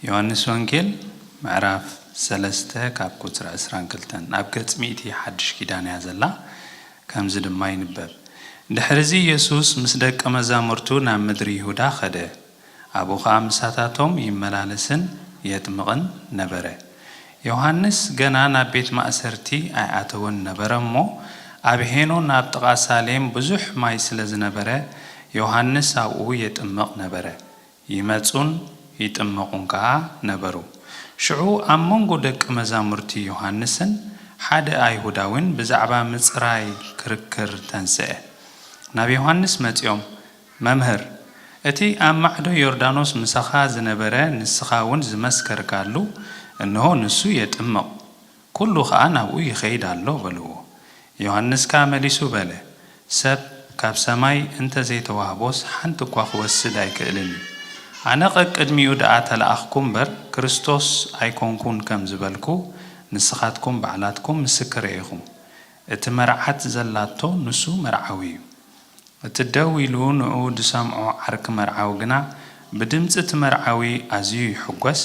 ዮሃንስ ወንጌል ምዕራፍ ሰለስተ ካብ ቁፅሪ ዕስራን ክልተን ኣብ ገጽ ሚእቲ ሓድሽ ኪዳን እያ ዘላ ከምዚ ድማ ይንበብ ድሕርዚ ኢየሱስ ምስ ደቀ መዛሙርቱ ናብ ምድሪ ይሁዳ ኸደ ኣብኡ ኸኣ ምሳታቶም ይመላለስን የጥምቕን ነበረ። ዮሃንስ ገና ናብ ቤት ማእሰርቲ ኣይኣተወን ነበረ እሞ፣ ኣብ ሄኖን ኣብ ጥቓ ሳሌም ብዙሕ ማይ ስለ ዝነበረ፣ ዮሃንስ ኣብኡ የጥምቕ ነበረ። ይመጹን ይጥመቑን ከኣ ነበሩ። ሽዑ ኣብ መንጎ ደቂ መዛሙርቲ ዮሃንስን ሓደ ኣይሁዳዊን ብዛዕባ ምጽራይ ክርክር ተንስኤ። ናብ ዮሃንስ መጺኦም፣ መምህር፣ እቲ ኣብ ማዕዶ ዮርዳኖስ ምሳኻ ዝነበረ ንስኻውን ዝመስከርካሉ፣ እንሆ ንሱ የጥምቕ፣ ኵሉ ኸኣ ናብኡ ይኸይድ ኣሎ በልዎ። ዮሃንስ ከኣ መሊሱ በለ፣ ሰብ ካብ ሰማይ እንተ ዘይተዋህቦስ ሓንቲ እኳ ኽወስድ ኣይክእልን እዩ። ኣነ ቐቅድሚኡ ደኣ ተለኣኽኩ እምበር፣ ክርስቶስ ኣይኰንኩን ከም ዝበልኩ፣ ንስኻትኩም ባዕላትኩም ምስክረይ ኢኹም። እቲ መርዓት ዘላቶ ንሱ መርዓዊ እዩ። እቲ ደው ኢሉ ንዕኡ ዝሰምዖ ዓርኪ መርዓዊ ግና፣ ብድምጺ እቲ መርዓዊ ኣዝዩ ይሕጐስ፣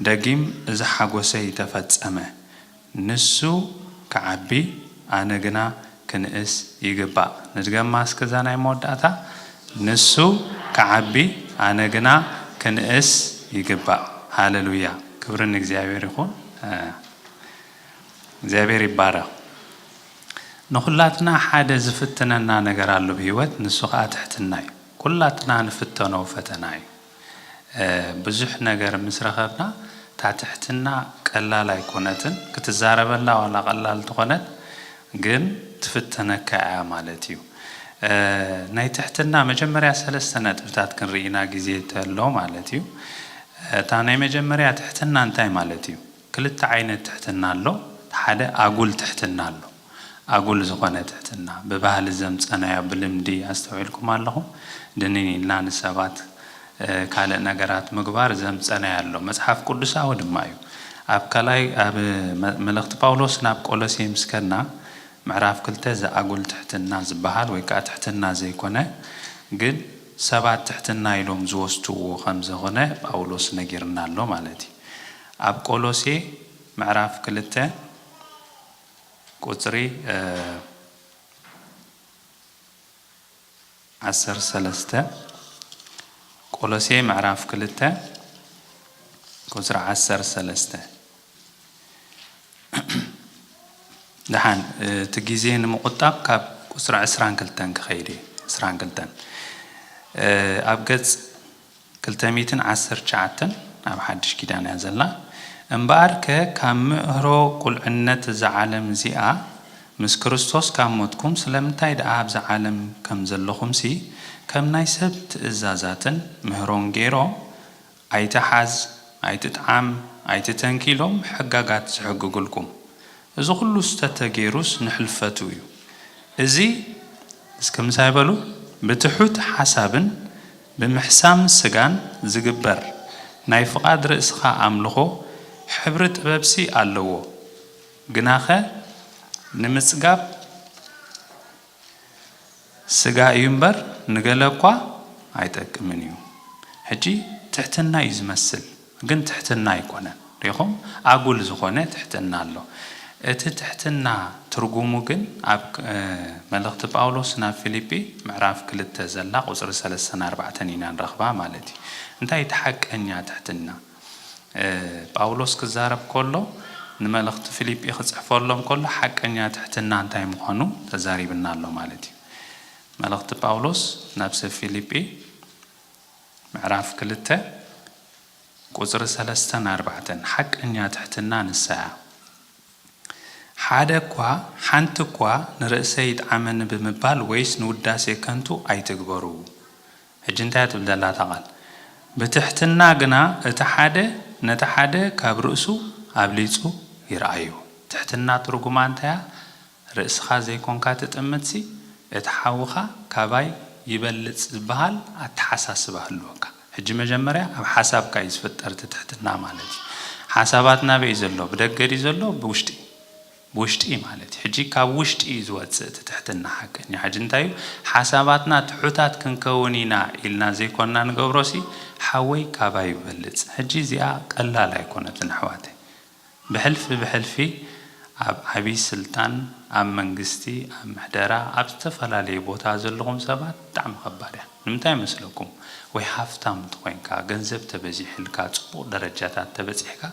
ደጊም እዚ ሓጐሰይ ተፈጸመ፣ ንሱ ክዓቢ ኣነ ግና ክንእስ ይግባእ። ንድገማ እስከ እዛ ናይ መወዳእታ፣ ንሱ ክዓቢ ኣነ ግና ክንእስ ይግባእ። ሃለሉያ! ክብሪ ንእግዚኣብሔር ይኹን። እግዚኣብሔር ይባረኽ። ንኹላትና ሓደ ዝፍትነና ነገር ኣሎ ኣብ ሂወት ንሱ ኸኣ ትሕትና እዩ ኩላትና ንፍተኖ ፈተና እዩ ብዙሕ ነገር ምስ ረኸብና እታ ትሕትና ቀላል ኣይኮነትን ክትዛረበላ ዋላ ቀላል ትኾነት ግን ትፍተነካ እያ ማለት እዩ ናይ ትሕትና መጀመርያ ሰለስተ ነጥብታት ክንሪኢ ኢና ግዜ ተሎ ማለት እዩ እታ ናይ መጀመርያ ትሕትና እንታይ ማለት እዩ? ክልተ ዓይነት ትሕትና ኣሎ እቲ ሓደ ኣጉል ትሕትና ኣሎ ኣጉል ዝኾነ ትሕትና ብባህሊ ዘምጸናዮ ብልምዲ ኣስተውዒልኩም ኣለኹም ድንን ኢልና ንሰባት ካልእ ነገራት ምግባር ዘምጸናዮ ኣሎ መጽሓፍ ቁዱሳዊ ድማ እዩ ኣብ ካልኣይ ኣብ መልእኽቲ ጳውሎስ ናብ ቆሎሴ ምስ ከድና ምዕራፍ ክልተ እዚ ኣጉል ትሕትና ዝበሃል ወይ ከኣ ትሕትና ዘይኮነ ግን ሰባት ትሕትና ኢሎም ዝወስድዎ ከም ዘኾነ ጳውሎስ ነጊርና ኣሎ ማለት እዩ ኣብ ቆሎሴ ምዕራፍ ክልተ ቁጽሪ ዓሰርተ ሰለስተ ቆሎሴ ምዕራፍ ክልተ ቁጽሪ ዓሰርተ ሰለስተ ደሓን እቲ ግዜ ንምቑጣብ ካብ ቁጽሪ ዕስራን ክልተን ክኸይድ እየ ዕስራን ክልተን ኣብ ገጽ ክልተ ሚእትን ዓሰርተ ትሽዓተን ኣብ ሓድሽ ኪዳን እያ ዘላ እምበኣር ከ ካብ ምእህሮ ቁልዕነት እዛ ዓለም እዚኣ ምስ ክርስቶስ ካብ ሞትኩም ስለምንታይ ደኣ ኣብዛ ዓለም ከም ዘለኹምሲ ከም ናይ ሰብ ትእዛዛትን ምህሮን ገይሮም ኣይትሓዝ ኣይትጥዓም ኣይትተንኪ ኢሎም ሕጋጋት ዝሕግግልኩም እዚ ኩሉ ስተተገይሩስ ንሕልፈቱ እዩ እዚ እስከ ምሳይ በሉ ብትሑት ሓሳብን ብምሕሳም ስጋን ዚግበር ናይ ፍቓድ ርእስኻ ኣምልኾ ሕብሪ ጥበብሲ ኣለዎ፣ ግናኸ ንምጽጋብ ስጋ እዩ እምበር ንገለ እኳ ኣይጠቅምን እዩ። ሕጂ ትሕትና እዩ ዚመስል። ግን ትሕትና ኣይኮነን ሪኢኹም ኣጉል ዝኾነ ትሕትና ኣሎ እቲ ትሕትና ትርጉሙ ግን ኣብ መልእኽቲ ጳውሎስ ናብ ፊሊጲ ምዕራፍ ክልተ ዘላ ቁጽሪ ሰለስተን ኣርባዕተን ኢና ንረኽባ ማለት እዩ እንታይ እቲ ሓቀኛ ትሕትና ጳውሎስ ክዛረብ ኮሎ ንመልእኽቲ ፊሊጲ ክጽሕፈሎም ኮሎ ሓቀኛ ትሕትና እንታይ ምዃኑ ተዛሪብና ኣሎ ማለት እዩ መልእኽቲ ጳውሎስ ናብ ሰብ ፊሊጲ ምዕራፍ ክልተ ቁጽሪ ሰለስተን ኣርባዕተን፣ ሓቀኛ ትሕትና ንሳ'ያ። ሓደ'ኳ ሓንቲ'ኳ ንርእሰይ ይጥዓመኒ ብምባል ወይስ ንውዳሴ ከንቱ ኣይትግበሩ። ሕጂ እንታይ'ያ ትብል ዘላ እታ ቓል? ብትሕትና ግና እቲ ሓደ ነቲ ሓደ ካብ ርእሱ ኣብሊጹ ይርኣዮ። ትሕትና ትርጉማ እንታይ'ያ? ርእስኻ ዘይኮንካ ትጥምትሲ እቲ ሓውኻ ካባይ ይበልጽ ዝበሃል ኣተሓሳስባ ህልወካ። ሕጂ መጀመርያ ኣብ ሓሳብካ እዩ ዝፍጠር እቲ ትሕትና ማለት እዩ። ሓሳባት ናበይ እዩ ዘሎ ብደገ ድዩ ዘሎ ብውሽጢ ብውሽጢ ማለት እዩ። ሕጂ ካብ ውሽጢ እዩ ዝወጽእ እቲ ትሕትና ሓቀኛ ሕጂ እንታይ እዩ ሓሳባትና ትሑታት ክንከውን ኢና ኢልና ዘይኮንና ንገብሮሲ ሓወይ ካባይ ይበልጽ ሕጂ እዚኣ ቀላል ኣይኮነትን ኣሕዋተይ ብሕልፊ ብሕልፊ ኣብ ዓቢ ስልጣን ኣብ መንግስቲ ኣብ ምሕደራ ኣብ ዝተፈላለዩ ቦታ ዘለኹም ሰባት ብጣዕሚ ከባድ እያ ንምንታይ መስለኩም ወይ ሃፍታም ተኾይንካ ገንዘብ ተበዚሕልካ ጽቡቕ ደረጃታት ተበጺሕካ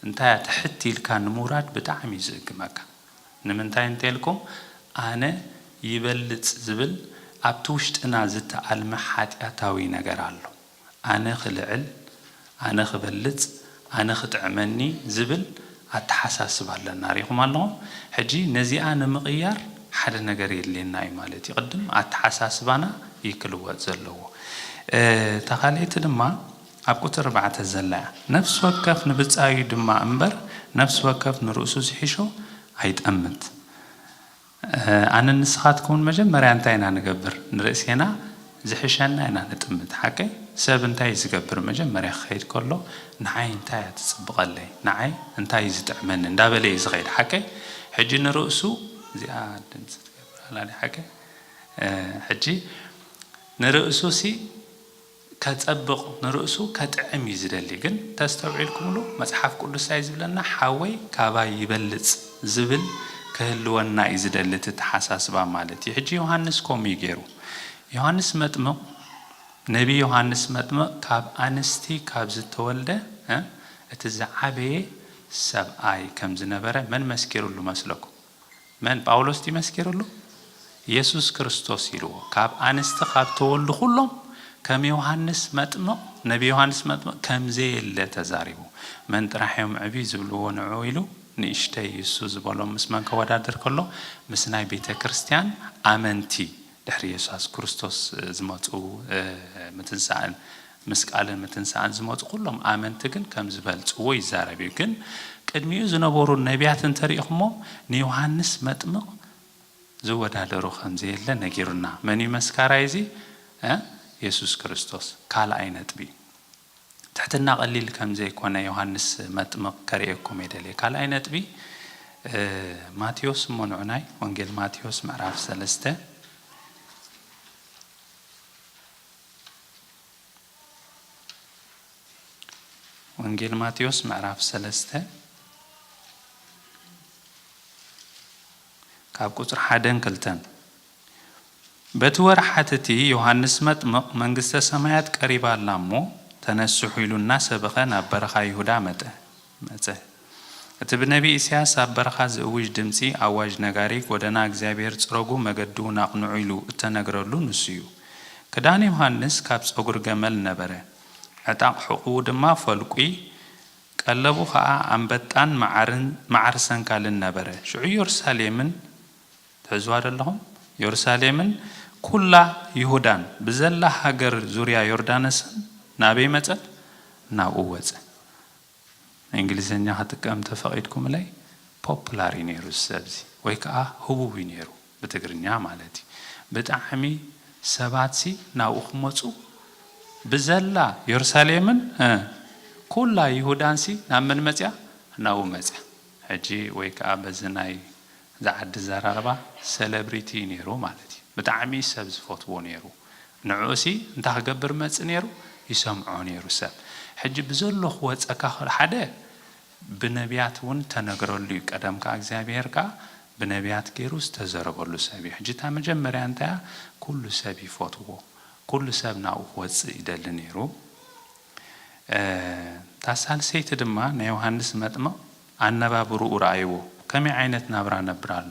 እንታይ እያ ትሕት ኢልካ ንምውራድ ብጣዕሚ እዩ ዝእግመካ ንምንታይ እንተልኩም ኣነ ይበልጽ ዝብል ኣብቲ ውሽጥና ዝተኣልመ ሓጥያታዊ ነገር ኣሎ ኣነ ክልዕል፣ ኣነ ክበልጽ፣ ኣነ ክጥዕመኒ ዝብል ኣተሓሳስባ ኣለና ሪኢኹም ኣለኹም ሕጂ ነዚኣ ንምቕያር ሓደ ነገር የድልየና እዩ ማለት እዩ ቅድም ኣተሓሳስባና እዩ ክልወጥ ዘለዎ እታ ካልኣይቲ ድማ ኣብ ቁጽሪ ኣርባዕተ ዘላ እያ ነፍሲ ወከፍ ንብጻዩ ድማ እምበር ነፍሲ ወከፍ ንርእሱ ዝሕሾ ኣይጠምት ኣነን ንስኻትኩምን መጀመርያ እንታይ ኢና ንገብር? ንርእሴና ዝሕሸና ኢና ንጥምት። ሓቀይ? ሰብ እንታይ እዩ ዝገብር? መጀመርያ ክኸይድ ከሎ ንዓይ እንታይ እያ ትጽብቐለይ? ንዓይ እንታይ እዩ ዝጥዕመኒ? እንዳበለ እዩ ዝኸይድ። ሓቀይ? ሕጂ ንርእሱ እዚኣ ድምጺ ትገብር ኣላ ድያ ሓቀይ? ሕጂ ንርእሱሲ? ከጸብቅ ንርእሱ ከጥዕም እዩ ዝደሊ ግን ተስተውዒልኩምሉ መጽሓፍ ቅዱስ ታይ ዝብለና ሓወይ ካባይ ይበልጽ ዝብል ክህልወና እዩ ዝደሊ እቲ ኣተሓሳስባ ማለት እዩ ሕጂ ዮሃንስ ከምኡ እዩ ጌሩ ዮሃንስ መጥምቅ ነቢ ዮሃንስ መጥምቅ ካብ ኣንስቲ ካብ ዝተወልደ እቲ ዝዓበየ ሰብኣይ ከም ዝነበረ መን መስኪርሉ መስለኩም መን ጳውሎስ ድዩ መስኪሩሉ የሱስ ክርስቶስ ኢልዎ ካብ ኣንስቲ ካብ ተወልዱ ኩሎም ከም ዮሃንስ መጥምቕ ነቢ ዮሃንስ መጥምቕ ከም ዘየለ ተዛሪቡ መን ጥራሕ እዮም ዕብይ ዝብልዎ ንዑ ኢሉ ንእሽተይ እሱ ዝበሎም ምስ መን ከወዳድር ከሎ ምስ ናይ ቤተክርስትያን ኣመንቲ ድሕሪ የሱስ ክርስቶስ ዝመጹ ምትንሳእን ምስ ቃልን ምትንሳእን ዝመጹ ኩሎም ኣመንቲ ግን ከም ዝበልጽዎ ይዛረብ እዩ። ግን ቅድሚኡ ዝነበሩ ነብያት እንተሪኢኹሞ ንዮሃንስ መጥምቕ ዝወዳደሮ ከም ዘየለ ነጊሩና። መን እዩ መስካራይ እዚ? የሱስ ክርስቶስ። ካልኣይ ነጥቢ። ትሕትና ቀሊል ከምዘይኮነ ዮሃንስ መጥምቅ ከርእየኩም እየ ደልየ ካልኣይ ነጥቢ ማቴዎስ እሞ ንዑናይ ወንጌል ማቴዎስ ምዕራፍ ሰለስተ ወንጌል ማቴዎስ ምዕራፍ ሰለስተ ካብ ቁፅሪ ሓደን ክልተን በቲ ወርሓት እቲ ዮሃንስ መጥምቕ መንግስተ ሰማያት ቀሪባ ኣላ እሞ ተነስሑ ኢሉ እናሰበኸ ናብ በረኻ ይሁዳ መጠ መጸ። እቲ ብነቢ ኢሳያስ ኣብ በረኻ ዝእውጅ ድምጺ ኣዋጅ ነጋሪ ጎደና እግዚኣብሔር ጽረጉ መገዲውን ኣቕንዑ ኢሉ እተነግረሉ ንሱዩ። ክዳን ዮሃንስ ካብ ጸጉሪ ገመል ነበረ፣ ዕጣቕ ሕቝኡ ድማ ፈልቊ፣ ቀለቡ ኸኣ ኣንበጣን መዓርን መዓር ሰንካልን ነበረ። ሽዑ ኢየሩሳሌምን ትሕዝዋ ዶ ኣለኹም? ዮርሳሌምን ኩላ ይሁዳን ብዘላ ሃገር ዙርያ ዮርዳነስን ናበይ መጸት? ናብኡ ወጸ። እንግሊዝኛ ክጥቀም እንተ ፈቂድኩምለይ ፖፑላር እዩ ነይሩ እዚ ሰብ እዚ ወይ ከኣ ህቡብ እዩ ነይሩ ብትግርኛ ማለት እዩ። ብጣዕሚ ሰባት ሲ ናብኡ ክመጹ ብዘላ ዮርሳሌምን ኩላ ይሁዳን ሲ ናብ መን መጽያ? ናብኡ መጽያ። ሕጂ ወይ ከኣ በዚ ናይ እዛ ዓዲ ኣዘራርባ ሰለብሪቲ እዩ ኔሩ ማለት እዩ ብጣዕሚ ሰብ ዝፈትዎ ኔሩ ንዕኡሲ እንታይ ክገብር መጽእ ኔሩ ይሰምዖ ኔሩ ሰብ ሕጂ ብዘሎ ክወጸካ ክል ሓደ ብነብያት ውን ተነግረሉ እዩ ቀደም ከኣ እግዚኣብሄር ከኣ ብነብያት ጌሩ ዝተዘረበሉ ሰብ እዩ ሕጂ እታ መጀመርያ እንታይ እያ ኩሉ ሰብ ይፈትዎ ኩሉ ሰብ ናብኡ ክወጽእ ይደሊ ኔሩ እታ ሳልሰይቲ ድማ ናይ ዮሃንስ መጥምቕ ኣነባብርኡ ረኣይዎ። ከመይ ዓይነት ናብራ ነብር ኣሎ?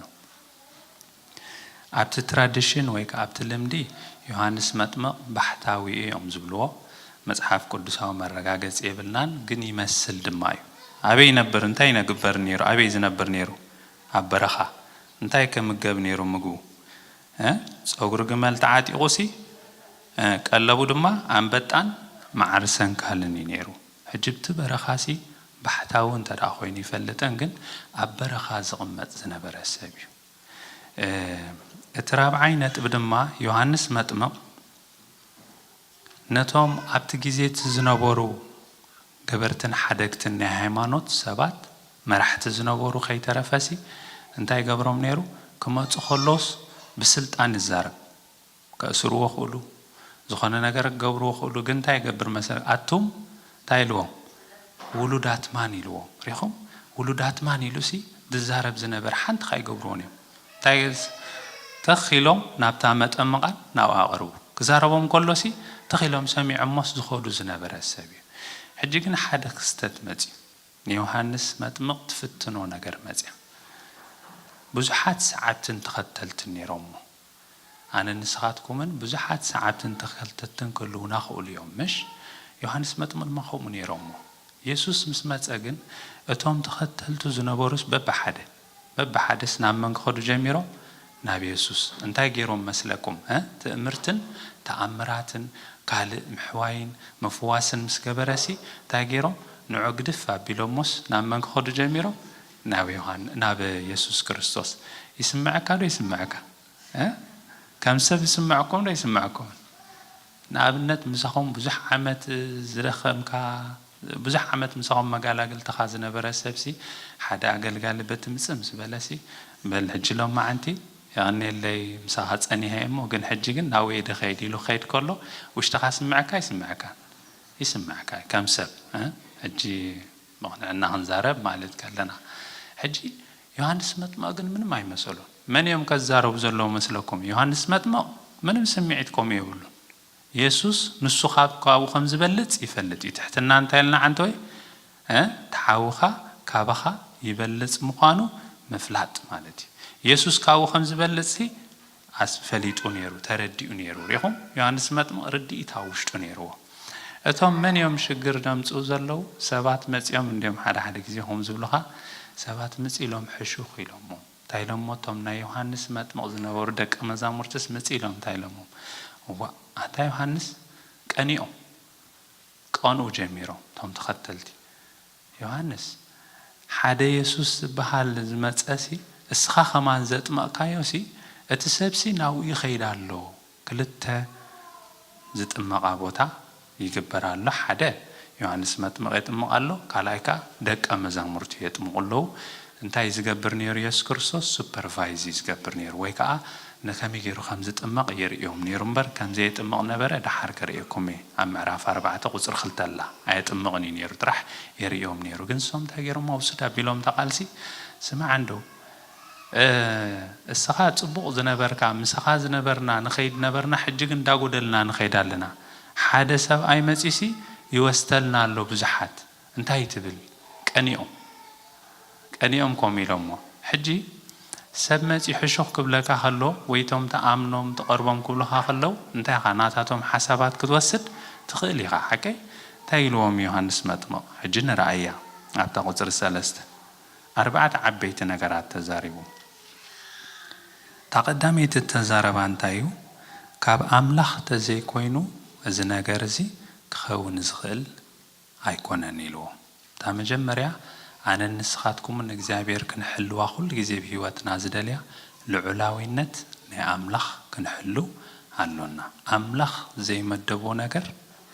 ኣብቲ ትራዲሽን ወይ ከኣ ኣብቲ ልምዲ ዮሃንስ መጥምቕ ባሕታዊ እዮም ዝብልዎ መጽሓፍ ቅዱሳዊ መረጋገጺ የብልናን ግን ይመስል ድማ እዩ። ኣበይ ይነብር እንታይ ይነግበር ኔሩ ኣበይ ዝነብር ኔሩ ኣብ በረኻ እንታይ ከ ምገብ ኔሩ ምግቡ እህ ጸጉሪ ግመል ተዓጢቑ ሲ ቀለቡ ድማ ኣንበጣን መዓር ሰንካልን እዩ ነይሩ። ሕጂብቲ በረኻሲ ባሕታዊ እንተ ኮይኑ ይፈልጠን ግን ኣብ በረኻ ዝቕመጥ ዝነበረ ሰብ እዩ። እቲ ራብዓይ ነጥቢ ድማ ዮሃንስ መጥምቕ ነቶም ኣብቲ ግዜ እቲ ዝነበሩ ገበርትን ሓደግትን ናይ ሃይማኖት ሰባት መራሕቲ ዝነበሩ ከይተረፈሲ እንታይ ይገብሮም ነይሩ ክመጹ ከሎስ ብስልጣን ይዛረብ። ከእስርዎ ክእሉ ዝኮነ ነገር ክገብርዎ ክእሉ ግን እንታይ ይገብር መሰለካ ኣቱም እንታይ ኢልዎም ውሉዳት ማን ኢልዎም ሪኢኩም ውሉዳት ማን ኢሉሲ ዝዛረብ ዝነበረ ሓንቲ ካይገብርዎን እዮም እንታይ ተኽ ኢሎም ናብታ መጠምቓን ናብኣ ቅርቡ ክዛረቦም ከሎሲ ትኽ ኢሎም ሰሚዖሞስ ዝከዱ ዝነበረ ሰብ እዩ ሕጂ ግን ሓደ ክስተት መጽዩ ንዮሃንስ መጥምቕ ትፍትኖ ነገር መጽያ ብዙሓት ሰዓብትን ተኸተልትን ኔሮሞ ኣነን ንስኻትኩምን ብዙሓት ሰዓብትን ተኸተልትን ክህልዉና ክእሉ እዮም። ምሽ? ዮሃንስ መጥምቕ ድማ ከምኡ ነይሮሞ። የሱስ ምስ መጸ ግን፣ እቶም ተኸተልቱ ዝነበሩስ በብሓደ፣ በብሓደስ ናብ መን ክኸዱ ጀሚሮም? ናብ የሱስ። እንታይ ገይሮም መስለኩም? ሀ? ትእምርትን ተኣምራትን፣ ካልእ ምሕዋይን ምፍዋስን ምስ ገበረሲ፣ እንታይ ገይሮም? ንዑ ግድፍ ኣቢሎሞስ ናብ መን ክኸዱ ጀሚሮም? ናብ ዮሃን ናብ የሱስ ክርስቶስ ይስመዐካ ዶ ይስመዐካ እ ከም ሰብ ይስመዐኩም ዶ ኣይስመዐኩምን ንኣብነት ምሳኹም ብዙሕ ዓመት ዝደኸምካ ብዙሕ ዓመት ምሳኹም መጋላግልትኻ ዝነበረ ሰብሲ ሓደ ኣገልጋሊ በቲ ምጽም ዝበለሲ በል ሕጂ ሎማዓንቲ የቐንየለይ ምሳኻ ጸኒሀ እሞ ግን ሕጂ ግን ናብኡ እየ ድኸይድ ኢሉ ክኸይድ ከሎ ውሽጥኻ ይስመዐካ ኣይስመዐካን ይስመዐካ እዩ ከም ሰብ እ ሕጂ መቕንዕና ክንዛረብ ማለት ከለና። ሕጂ ዮሃንስ መጥምቕ ግን ምንም ኣይመሰሎን። መን እዮም ከዛረቡ ዘለዉ መስለኩም? ዮሃንስ መጥምቕ ምንም ስምዒት ከምኡ የብሉን። የሱስ ንሱ ካብ ካብኡ ከም ዝበልጽ ይፈልጥ እዩ። ትሕትና እንታይ ኢልና ዓንተወይ? እ እቲ ሓውኻ ካባኻ ይበልጽ ምዃኑ ምፍላጥ ማለት እዩ። የሱስ ካብኡ ከም ዝበልጽሲ ኣስ ፈሊጡ ነይሩ ተረዲኡ ነይሩ ሪኢኹም ዮሃንስ መጥምቕ ርድኢት ኣብ ውሽጡ ነይርዎ እቶም መን እዮም ሽግር ደምጽኡ ዘለዉ ሰባት መጺኦም እንድዮም ሓደ ሓደ ግዜ ከምኡ ዝብሉኻ ሰባት ምጽ ኢሎም ሕሹኽ ኢሎሞ እንታይ ኢሎሞ እቶም ናይ ዮሃንስ መጥምቕ ዝነበሩ ደቀ መዛሙርትስ ምጽ ኢሎም እንታይ ኢሎሞም እዋእ ኣንታ ዮሃንስ ቀኒኦም ክቐንኡ ጀሚሮም እቶም ተኸተልቲ ዮሃንስ፣ ሓደ የሱስ ዝበሃል ዝመጸሲ፣ እስኻ ኸማን ዘጥመቕካዮሲ፣ እቲ ሰብሲ ናብኡ ይኸይድ ኣሎ። ክልተ ዝጥመቓ ቦታ ይግበር ኣሎ፣ ሓደ፣ ዮሃንስ መጥምቕ የጥምቕ ኣሎ፣ ካልኣይ ከኣ ደቀ መዛሙርቱ የጥምቑ ኣለዉ። እንታይ እዩ ዝገብር ነይሩ የሱስ ክርስቶስ? ሱፐርቫይዝ እዩ ዝገብር ነይሩ ወይ ከኣ ንከመይ ገይሩ ከም ዝጥመቕ የርእዮም ነይሩ እምበር ከም ዘየጥምቕ ነበረ ደሓር ከርእየኩም እየ ኣብ ምዕራፍ ኣርባዕተ ቁጽሪ ክልተ ኣላ ኣየጥምቕን እዩ ነይሩ ጥራሕ የርእዮም ነይሩ ግን ንሶም እንታይ ገይሮም ኣውስድ ኣቢሎምታ ቃልሲ ስማዕ እንዶ እስኻ ጽቡቕ ዝነበርካ ምሳኻ ዝነበርና ንኸይድ ነበርና ሕጂ ግን እንዳጎደልና ንኸይድ ኣለና ሓደ ሰብኣይ መጺሲ ይወስተልና ኣሎ ብዙሓት እንታይ ትብል ቀኒኦም ቀኒኦም ከምኡ ኢሎሞ ሕጂ ሰብ መጺ ሕሹኽ ክብለካ ከሎ ወይ እቶም ትኣምኖም ትቐርቦም ክብሉኻ ከለው እንታይ ኢኻ ናታቶም ሓሳባት ክትወስድ ትኽእል ኢኻ ሓቀይ እንታይ ኢልዎም ዮሃንስ መጥምቕ ሕጂ ንርኣያ ኣብታ ቁጽሪ ሰለስተ ኣርባዕተ ዓበይቲ ነገራት ተዛሪቡ እታ ቀዳመይቲ እተዛረባ እንታይ እዩ ካብ ኣምላኽ ተዘይኮይኑ እዚ ነገር እዚ ክኸውን ዝኽእል ኣይኮነን ኢልዎ እታ መጀመርያ ኣነን ንስኻትኩምን እግዚኣብሔር ክንሕልዋ ኩሉ ግዜ ብ ህይወትና ዝደልያ ልዑላዊነት ናይ ኣምላኽ ክንሕልው ኣሎና ኣምላኽ ዘይመደቦ ነገር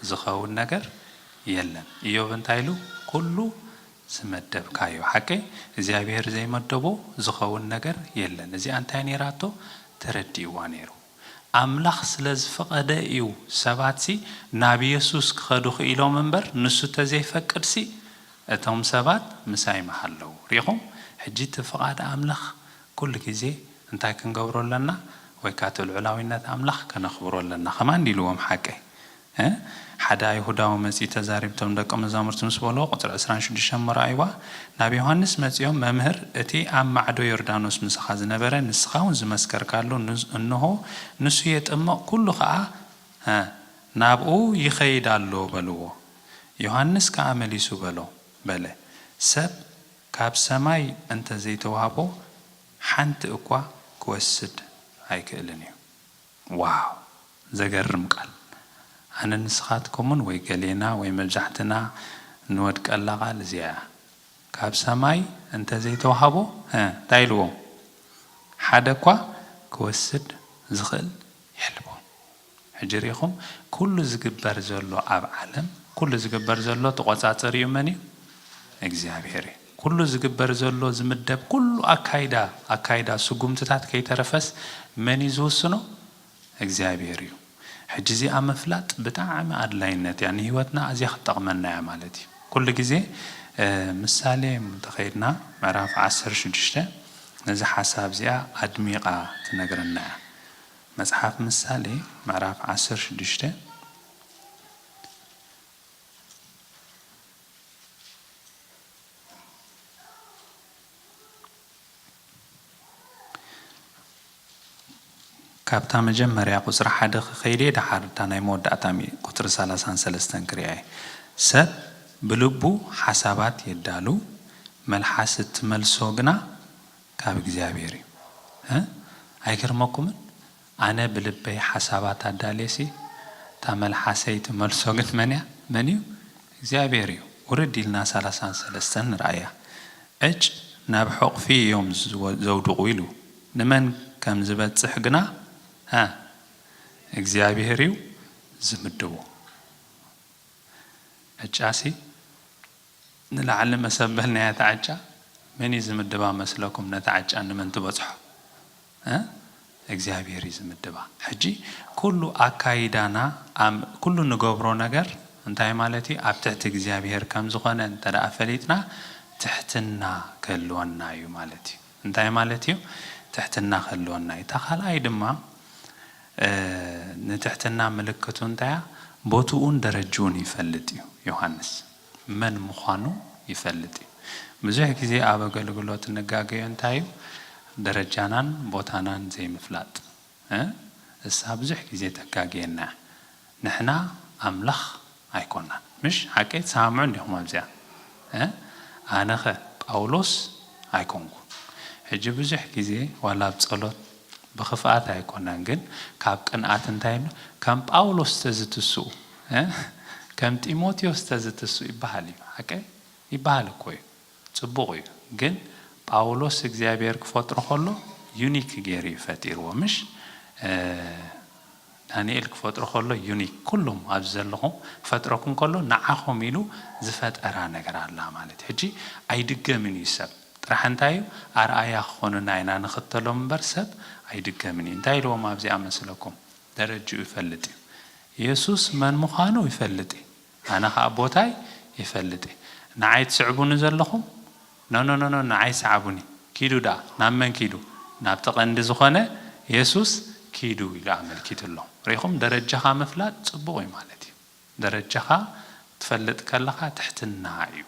ዝኸውን ነገር የለን እዮብ እንታይ ኢሉ ኩሉ ዝመደብካዮ ሓቀይ እግዚኣብሔር ዘይመደቦ ዝኸውን ነገር የለን እዚኣ እንታይ ነይራቶ ተረዲእዋ ነይሩ ኣምላኽ ስለ ዝፈቐደ እዩ ሰባትሲ ናብ የሱስ ክኸዱ ክኢሎም እምበር ንሱ ተዘይፈቅድሲ እቶም ሰባት ምሳይ ምሃለዉ። ርኢኹም ሕጂ እቲ ፍቓድ ኣምላኽ ኩሉ ግዜ እንታይ ክንገብሮ ኣለና ወይ ካኣ እቲ ልዑላዊነት ኣምላኽ ከነኽብሮ ኣለና ከማን ኢልዎም ሓቀይ እ ሓደ ኣይሁዳዊ መጺኡ ተዛሪብቶም ደቀ መዛሙርቲ ምስ በልዎ ቁጽሪ ዕስራን ሽዱሽተን እሞ ረኣይዋ ናብ ዮሃንስ መጺኦም መምህር እቲ ኣብ ማዕዶ ዮርዳኖስ ምሳኻ ዝነበረ ንስኻውን ዝመስከርካሉ እንሆ ንሱ የጥምቕ ኩሉ ከኣ እ ናብኡ ይኸይድ ኣሎ በልዎ ዮሃንስ ከኣ መሊሱ በሎ በለ ሰብ ካብ ሰማይ እንተ ዘይተዋህቦ ሓንቲ እኳ ክወስድ ኣይክእልን እዩ። ዋው ዘገርም ቃል ኣነ ንስኻትኩምን ወይ ገሌና ወይ መብዛሕትና ንወድቀላ ቃል እዚኣ እያ ካብ ሰማይ እንተ ዘይተዋህቦ ሀ እንታይ ኢልዎም ሓደ እኳ ክወስድ ዝኽእል የልቦን ሕጂ ሪኢኹም ኩሉ ዝግበር ዘሎ ኣብ ዓለም ኩሉ ዝግበር ዘሎ ተቆጻጸሪኡ መን እዩ እግዚኣብሔር እዩ። ኩሉ ዝግበር ዘሎ ዝምደብ ኩሉ ኣካይዳ ኣካይዳ ስጉምትታት ከይተረፈስ መን እዩ ዝውስኖ እግዚኣብሔር እዩ ሕጂ እዚኣ ምፍላጥ ብጣዕሚ ኣድላይነት እያ ንህይወትና ኣዝያ ክትጠቅመና እያ ማለት እዩ ኩሉ ግዜ ምሳሌ እንተከይድና ምዕራፍ ዓሰርተ ሽዱሽተ ነዛ ሓሳብ እዚኣ ኣድሚቃ ትነግረና እያ መጽሓፍ ምሳሌ ምዕራፍ ዓሰርተ ሽዱሽተ ካብታ መጀመርያ ቁጽሪ ሓደ ክከይድየ ደሓር እታ ናይ መወዳእታ ቁጽሪ ሰላሳን ሰለስተን ክርእያየ። ሰብ ብልቡ ሓሳባት የዳሉ መልሓስ እትመልሶ ግና ካብ እግዚኣብሔር እዩ። እ ኣይገርመኩምን? ኣነ ብልበይ ሓሳባት ኣዳልየሲ እታ መልሓሰይ ትመልሶ ግን መንያ መን እዩ እግዚኣብሔር እዩ ውርድ ኢልና ሳላሳን ሰለስተን ንርኣያ ዕጭ ናብ ሑቕፊ እዮም ዘውድቑ ኢሉ ንመን ከም ዝበጽሕ ግና ሃ እግዚኣብሔር እዩ ዝምድቦ ዕጫሲ ንላዕሊ መሰበል ናይ ኣቲ ዕጫ መን እዩ ዝምድባ መስለኩም ነቲ ዕጫ ንመን ትበጽሖ እ እግዚኣብሔር እዩ ዝምድባ ሕጂ ኩሉ ኣካይዳና ኣም ኩሉ ንገብሮ ነገር እንታይ ማለት እዩ ኣብ ትሕቲ እግዚኣብሔር ከም ዝኮነ እንተ ፈሊጥና ትሕትና ክህልወና እዩ ማለት እዩ እንታይ ማለት እዩ ትሕትና ክህልወና እዩ እታ ካልኣይ ድማ እ ንትሕትና ምልክቱ እንታይ እያ ቦትኡን ደረጅኡን ይፈልጥ እዩ ዮሃንስ መን ምዃኑ ይፈልጥ እዩ። ብዙሕ ግዜ ኣብ ኣገልግሎት እንጋገዮ እንታይ እዩ? ደረጃናን ቦታናን ዘይምፍላጥ። እሳ ብዙሕ ግዜ ተጋግየና እያ። ንሕና ኣምላኽ ኣይኮናን። ምሽ? ሓቀይ? ትሰማምዑ እንዲኹም ኣብዚኣ? ኣነኸ ጳውሎስ ኣይኮንኩን። ሕጂ ብዙሕ ግዜ ዋላ ኣብ ጸሎት ብኽፍኣት ኣይኮናን ግን ካብ ቅንኣት እንታይ ከም ጳውሎስ ተዝትስኡ። ከም ጢሞቴዎስ ተዝትስኡ ይበሃል እዩ ሓቀይ? ይበሃል እኮ እዩ ጽቡቅ እዩ ግን ጳውሎስ እግዚኣብሔር ክፈጥሮ ከሎ ዩኒክ ገይሩ እዩ ፈጢርዎ ምሽ ዳንኤል ክፈጥሮ ከሎ ዩኒክ ኩሉም ኣብዚ ዘለኹም ክፈጥረኩም ከሎ ንዓኹም ኢሉ ዝፈጠራ ነገር ኣላ ማለት እዩ ሕጂ ኣይድገምን እዩ ሰብ ጥራሕ እንታይ እዩ ኣርኣያ ክኾኑና ኢና ንኽተሎም እምበር ሰብ ኣይድገምን እዩ እንታይ ኢልዎም ኣብዚኣ መስለኩም ደረጅኡ ይፈልጥ እዩ የሱስ መን ምዃኑ ይፈልጥ እዩ ኣነ ከኣ ቦታይ ይፈልጥ እየ ንዓይ ትስዕቡኒ ዘለኹም ኖኖኖኖ ንዓይ ስዓቡኒ ኪዱ ደኣ ናብ መን ኪዱ ናብቲ ቀንዲ ዝኾነ የሱስ ኪዱ ኢሉ ኣመልኪቱሎም ሪኢኹም ደረጃኻ ምፍላጥ ጽቡቕ እዩ ማለት እዩ ደረጃኻ ትፈልጥ ከለኻ ትሕትና እዩ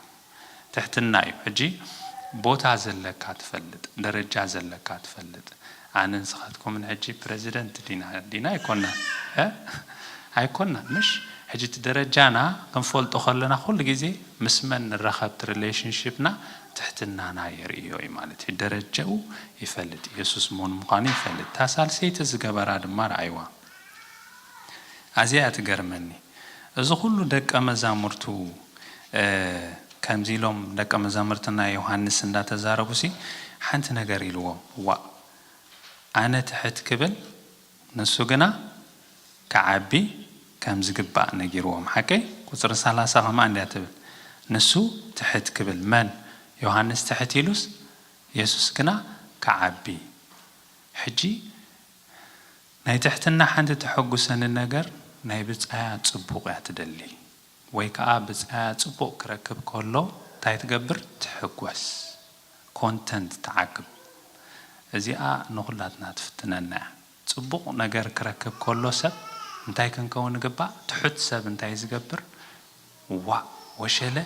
ትሕትና እዩ ሕጂ ቦታ ዘለካ ትፈልጥ ደረጃ ዘለካ ትፈልጥ ኣነን ንስኻትኩምን ሕጂ ፕረዚደንት ዲና ዲና ኣይኮናን እ ኣይኮናን ምሽ ሕጂ እቲ ደረጃና ክንፈልጦ ከለና ኩሉ ግዜ ምስ መን ንራኸብ እቲ ሪሌሽንሺፕና ትሕትናና የርእዮ እዩ ማለት እዩ ደረጃኡ ይፈልጥ ኢየሱስ መን ምዃኑ ይፈልጥ እታ ሳልሰይቲ ዝገበራ ድማ ርኣይዋ ኣዚያ እያ ትገርመኒ እዚ ኩሉ ደቀ መዛሙርቱ ከምዚ ኢሎም ደቀ መዛምርትና ዮሃንስ እንዳ ተዛረቡሲ ሓንቲ ነገር ኢልዎም ዋእ ኣነ ትሕት ክብል ንሱ ግና ክዓቢ ከም ዝግባእ ነጊርዎም ሓቀይ ቁጽሪ ሰላሳ ከምኣ እንድያ ትብል ንሱ ትሕት ክብል መን ዮሃንስ ትሕት ኢሉስ የሱስ ግና ክዓቢ ሕጂ ናይ ትሕትና ሓንቲ ተሐጉሰኒ ነገር ናይ ብጻያ ጽቡቅ እያ ትደሊ ወይ ከኣ ብጻያ ጽቡቅ ክረክብ ከሎ ታይ ትገብር ትሕጎስ ኮንተንት ትዓቅብ እዚኣ ንኩላትና ትፍትነና እያ ጽቡቅ ነገር ክረክብ ከሎ ሰብ እንታይ ክንከውን ንግባእ ትሑት ሰብ እንታይ ዝገብር ዋእ ወሸለ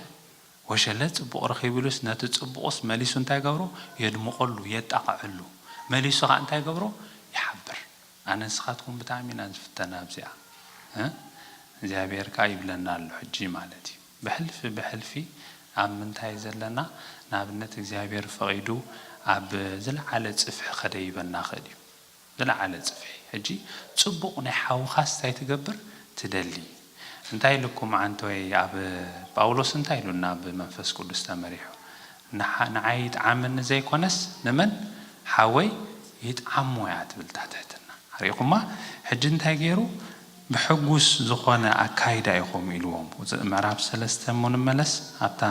ወሸለ ጽቡቕ ረኺቡሉስ ነቲ ጽቡቕስ መሊሱ እንታይ ይገብሮ የድምቐሉ የጣቕዐሉ መሊሱ ከኣ እንታይ ይገብሮ ይሓብር ኣነ ንስኻትኩም ብጣዕሚ ኢና ንፍተን ኣብዚኣ እ እግዚኣብሄር ከኣ ይብለና ኣሎ ሕጂ ማለት እዩ ብሕልፊ ብሕልፊ ኣብ ምንታይ ዘለና ንኣብነት እግዚኣብሄር ፈቒዱ ኣብ ዝለዓለ ጽፍሒ ከደይበና ይኽእል እዩ ዝለዓለ ጽፍሒ ሕጂ ጽቡቅ ናይ ሓውካስ ታይ ትገብር ትደሊ እንታይ ኢሉኩም ዓንቶይ ኣብ ጳውሎስ እንታይ ኢሉና ብ መንፈስ ቁዱስ ተመሪሑ ንዓይ ይጥዓመኒ ዘይኮነስ ንመን ሓወይ ይጥዓሞ እያ ትብል እታ ትሕትና ኣሪእኩማ ሕጂ እንታይ ጌሩ ብሕጉስ ዝኮነ ኣካይዳ ኢኩም ኢልዎም ምዕራፍ ሰለስተ እሞ ንመለስ ኣብታ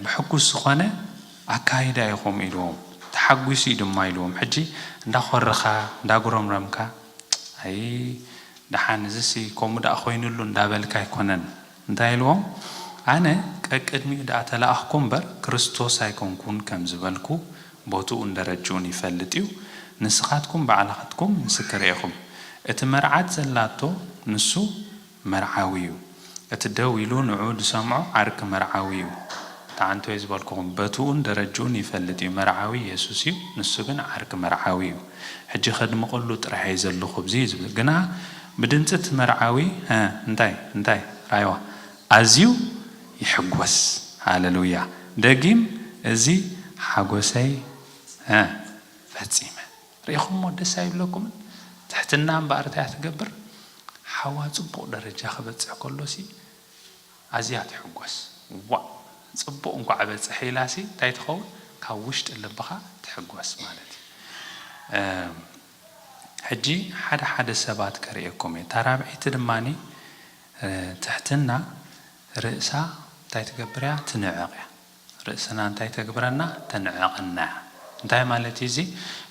ብሕጉስ ዝኾነ ኣካይዳ ኢኹም ኢልዎም ተሓጒሱ እዩ ድማ ኢልዎም ሕጂ እንዳኾረኻ እንዳጉረምረምካ ኣይ ደሓን እዚሲ ከምኡ ደኣ ኮይኑሉ እንዳበልካ ኣይኮነን እንታይ ኢልዎም ኣነ ቀቅድሚኡ ደኣ ተላኣኽኩ እምበር ክርስቶስ ኣይኮንኩን ከም ዝበልኩ ቦትኡን ደረጅኡን ይፈልጥ እዩ ንስኻትኩም ባዕልኽትኩም ምስክር ኢኹም እቲ መርዓት ዘላቶ ንሱ መርዓዊ'ዩ እቲ ደው ኢሉ ንዕኡ ዝሰምዖ ዓርኪ መርዓዊ'ዩ ትዓንቶይ ዝበልኩኹም በትኡን ደረጅኡን ይፈልጥ'ዩ መርዓዊ የሱስ'ዩ ንሱ ግን ዓርኪ መርዓዊ'ዩ ሕጂ ከድምቐሉ ጥራሕ'የ ዘለኹብዚ ዝብል ግና ብድምጺ እቲ መርዓዊ ሀ እንታይ እንታይ ራይዋ ኣዝዩ ይሕጎስ ሃለሉያ ደጊም እዚ ሓጎሰይ ሀ ፈጺመ ሪኢኹሞ ደስ ኣይብለኩምን ትሕትና እምበኣር እታያ ትገብር ሓዋ ጽቡቕ ደረጃ ክበጽሕ ከሎሲ ኣዝያ ትሕጎስ ዋእ ጽቡቕ እንኳዕ በጸሐ ኢላሲ እንታይ ትኸውን ካብ ውሽጢ ልብኻ ትሕጎስ ማለት እዩ እም ሕጂ ሓደ ሓደ ሰባት ከርእየኩም እየ እታ ራብዐይቲ ድማ ትሕትና ርእሳ እንታይ ትገብር እያ ትንዕቕ እያ ርእስና እንታይ ተግብረና? ተንዕቐና እያ። እንታይ ማለት እዩ እዚ?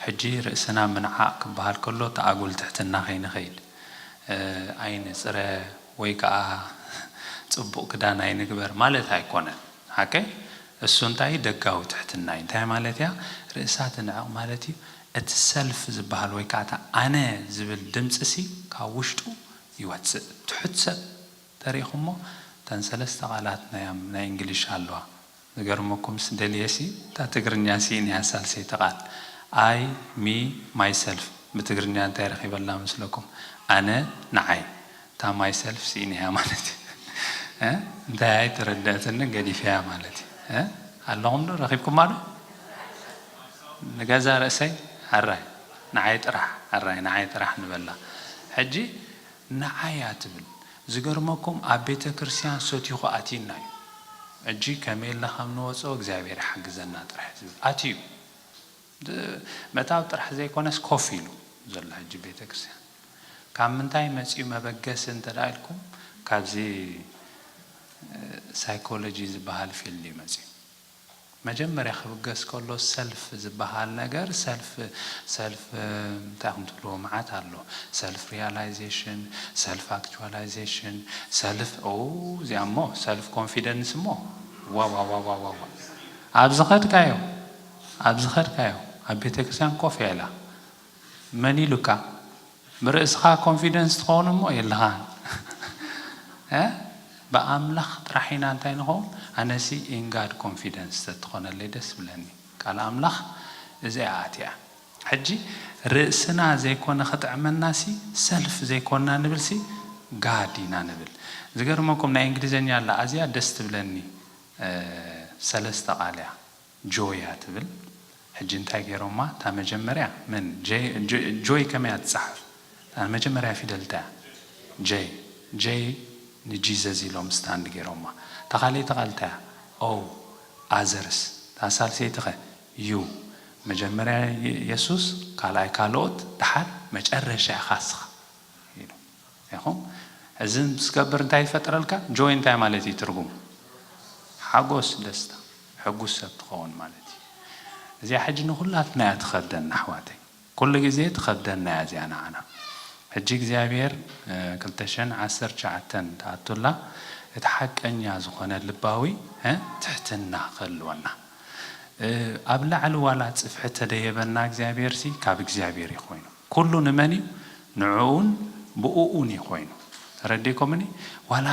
ሕጂ ርእስና ምንዓቕ ክበሃል ከሎ እቲ ኣጉል ትሕትና ከይንኸይድ፣ ኣይንጽረ ወይ ከኣ ጽቡቕ ክዳን ኣይንግበር ማለት ኣይኮነን። ሓቀይ? እሱ እንታይ እዩ? ደጋዊ ትሕትና እዩ። እንታይ ማለት እያ ርእሳ ትንዕቕ ማለት እዩ? እቲ ሰልፍ ዝበሃል ወይ ከኣ እቲ ኣነ ዝብል ድምጺሲ ካብ ውሽጡ ይወጽእ። ትሑት ሰብ ተሪኢኹሞ እተን ሰለስተ ቃላት ናያም ናይ እንግሊሽ ኣለዋ ዝገርመኩምስ ደልየሲ እታ ትግርኛ ሲኢነያ ሳልሰይቲ ቃል I me myself ብትግርኛ እንታይ ረኺበላ መስለኩም ኣነ ንዓይ እታ myself ሲኢነያ ማለት እየ እንታይ ኣይተረደኣትንን ገዲፈያ ማለት እየ ኣለኹም ዶ ረኺብኩማ ዶ ንገዛ ርእሰይ ሕራይ ንዓይ ጥራሕ ሕራይ ንዓይ ጥራሕ ንበላ ሕጂ ንዓይ እያ ትብል ዝገርመኩም ኣብ ቤተ ክርስትያን ሰቲኹ ኣትዩና እዩ ሕጂ ከመይ እልና ከም ንወጾ እግዚኣብሔር ይሓግዘና ጥራሕ ዝብል ኣትዩ መታብ ጥራሕ ዘይኮነስ ኮፍ ኢሉ ዘሎ ሕጂ ቤተ ክርስትያን ካብ ምንታይ መጺኡ መበገሲ እንተ ኢልኩም ካብዚ ሳይኮሎጂ ዝብሃል ፊልድ እዩ መጺኡ መጀመርያ ክብገስ ከሎ ሰልፍ ዝባሃል ነገር ሰልፍ ሰልፍ እንታይ ኢኹም ትብልዎ ማዓት ኣሎ ሰልፍ ሪያላይዜሽን ሰልፍ ኣክቹዋላይዜሽን ሰልፍ ኦው እዚኣ እሞ ሰልፍ ኮንፊደንስ እሞ ዋዋዋዋዋ ኣብ ዝኸድካዮ ኣብ ዝኸድካዮ ኣብ ቤተክርስትያን ኮፍ ኢላ መን ኢሉካ ብርእስኻ ኮንፊደንስ ትኸውን እሞ የለኻን እ ብኣምላኽ ጥራሕ ኢና እንታይ ንኸውን ኣነሲ ኢን ጋድ ኮንፊደንስ ተትኾነለይ ደስ ምብለኒ ቃል ኣምላኽ እዚኣ ኣትያ ሕጂ ርእስና ዘይኮነ ክጥዕመናሲ ሰልፍ ዘይኮና ንብልሲ ጋድ ኢና ንብል ዝገርመኩም ናይ እንግሊዘኛ ኣላ ኣዝያ ደስ ትብለኒ ሰለስተ ቃል እያ ጆያ ትብል ሕጂ እንታይ ጌሮማ እታ መጀመርያ መን ጆይ ከመይ እያ ትጻሓፍ እታ መጀመርያ ፊደል እንታይ እያ ጀይ ጀይ ንጂዘዝ ኢሎም ስታንድ ጌሮማ እታ ካልኣይቲ ቃል እንታይ እያ ኦው ኣዘርስ እታ ሳልሰይቲ ከ ዩ መጀመርያ የሱስ ካልኣይ ካልኦት ድሓር መጨረሻ ኢካ እስካ ኢሉ ኢኹም እዚ ምስ ትገብር እንታይ ይፈጥረልካ joy እንታይ ማለት እዩ ትርጉሙ ሓጎስ ደስታ ሕጉስ ሰብ ትኸውን ማለት እዩ እዚኣ ሕጂ ንኹላትና እያ ትኸብደና ኣሕዋተይ ኩሉ ግዜ ትኸብደና እያ እዚኣ ንዓና ሕጂ እግዚኣብሔር ክልተ ሽሕን ዓሰርተ ትሽዓተን ትኣቱላ እቲ ሓቀኛ ዝኾነ ልባዊ ትሕትና ክህልወና ኣብ ላዕሊ ዋላ ጽፍሒ ተደየበና እግዚኣብሔርሲ ካብ እግዚኣብሔር እዩ ኮይኑ ኩሉ ንመን እዩ ንዕኡን ብኡኡን እዩ ኮይኑ ተረዴኮምኒ ዋላ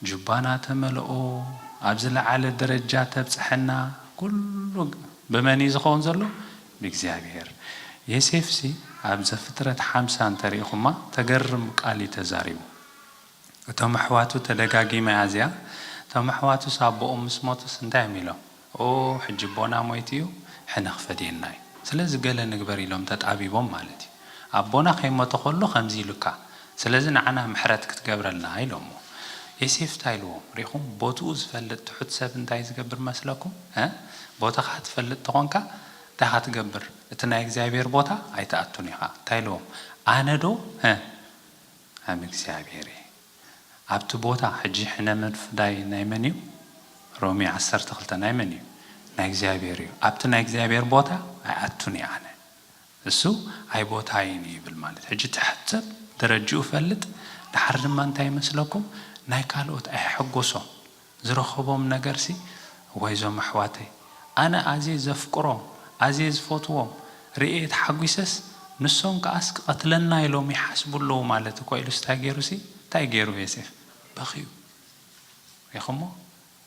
ጁባና ተመልኦ ኣብ ዝለዓለ ደረጃ ተብፀሐና ኩሉ ብመን እዩ ዝከውን ዘሎ ብእግዚኣብሔር የሴፍሲ ኣብ ዘፍጥረት ሓምሳ እንተሪኢኩማ ተገርም ቃል እዩ ተዛሪቡ እቶም ኣሕዋቱ ተደጋጊመ ኣዝያ እቶም ኣሕዋቱስ ኣቦኦም ምስ ሞተስ እንታይ እዮም ኢሎም ኦእ ሕጂ ኣቦና ሞይቱ እዩ ሕነ ክፈድየና እዩ ስለዚ ገለ ንግበር ኢሎም ተጣቢቦም ማለት እዩ ኣቦና ከይሞተ ከሎ ከምዚ ኢሉካ ስለዚ ንዓና ምሕረት ክትገብረልና ኢሎሞ ዬሴፍ እንታይ ኢልዎም ሪኢኹም ቦትኡ ዝፈልጥ ትሑት ሰብ እንታይ ዝገብር መስለኩም እ ቦታኻ ትፈልጥ ተኾንካ እንታይ ኢኻ ትገብር እቲ ናይ እግዚኣብሄር ቦታ ኣይትኣቱን ኢኻ እንታይ ኢልዎም ኣነ ዶ እ ኣም እግዚኣብሔር እየ ኣብቲ ቦታ ሕጂ ሕነ ምፍዳይ ናይ መን እዩ ሮሜ ዓሰርተ ክልተ ናይ መን እዩ ናይ እግዚኣብሔር እዩ ኣብቲ ናይ እግዚኣብሔር ቦታ ኣይኣቱን እየ ኣነ እሱ ኣይቦታይን እዩ ይብል ማለት ሕጂ እቲ ሕሰብ ደረጅኡ ፈልጥ ድሓር ድማ እንታይ ይመስለኩም ናይ ካልኦት ኣየሐጎሶም ዝረኸቦም ነገርሲ እዋይ እዞም ኣሕዋተይ ኣነ ኣዜ ዘፍቅሮም ኣዜ ዝፈትዎም ርእየ ተሓጒሰስ ንሶም ከኣስ ክቀትለና ኢሎም ይሓስቡ ኣለዉ ማለት እኮ ኢሉስ ታይ ገይሩሲ ታይ ገይሩ ዬሴፍ በኽዩ ሪኢኽሞ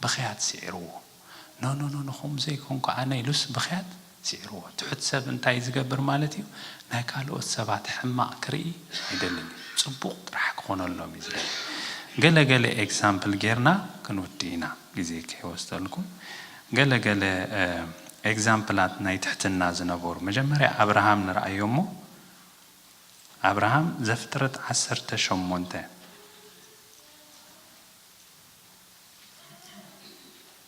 ብኽያት ሲዒርዎ ኖኖኖኖኹም ዘይኮንኩ ኣነ ኢሉስ ብኽያት ስዒርዎ። ትሑት ሰብ እንታይ ዝገብር ማለት እዩ? ናይ ካልኦት ሰባት ሕማቕ ክርኢ ኣይደልን እዩ። ጽቡቕ ጥራሕ ክኾነሎም እዩ ዝደሊ። ገለ ገለ ኤግዛምፕል ጌርና ክንውድእ ኢና ግዜ ከይወስደልኩም። ገለ ገለ ኤግዛምፕላት ናይ ትሕትና ዝነበሩ። መጀመርያ ኣብርሃም ንርኣዮ እሞ ኣብርሃም ዘፍጥረት ዓሰርተ ሸሞንተ።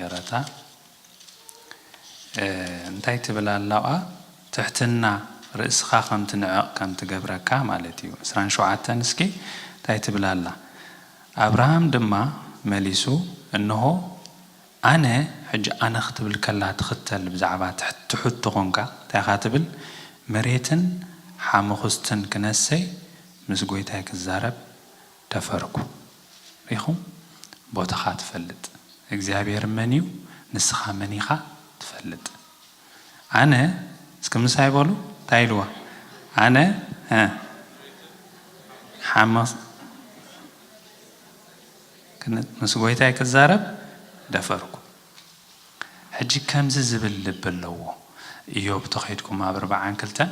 የረታ እንታይ ትብል ኣላቃ ትሕትና ርእስካ ከም ትንዕቅ ከም ትገብረካ ማለት እዩ ዕስራን ሸውዓተን እስኪ እንታይ ትብል ኣላ ኣብርሃም ድማ መሊሱ እንሆ ኣነ ሕጂ ኣነ ክትብል ከላ ትክተል ብዛዕባ ትሕቱ ኮንካ እንታይ ኢካ ትብል መሬትን ሓሙክስትን ክነሰይ ምስ ጎይታይ ክዛረብ ደፈርኩ ሪኹም ቦትኻ ትፈልጥ እግዚኣብሔር መን እዩ ንስኻ መን ኢኻ ትፈልጥ ኣነ እስኪ ምሳይ በሉ እንታይ ኢልዋ ኣነ እ ሓምስ ምስ ጎይታይ ክዛረብ ደፈርኩ። ሕጂ ከምዚ ዝብል ልቢ ኣለዎ እዮብ ተዄድኩም ኣብ ርብዓን ክልተን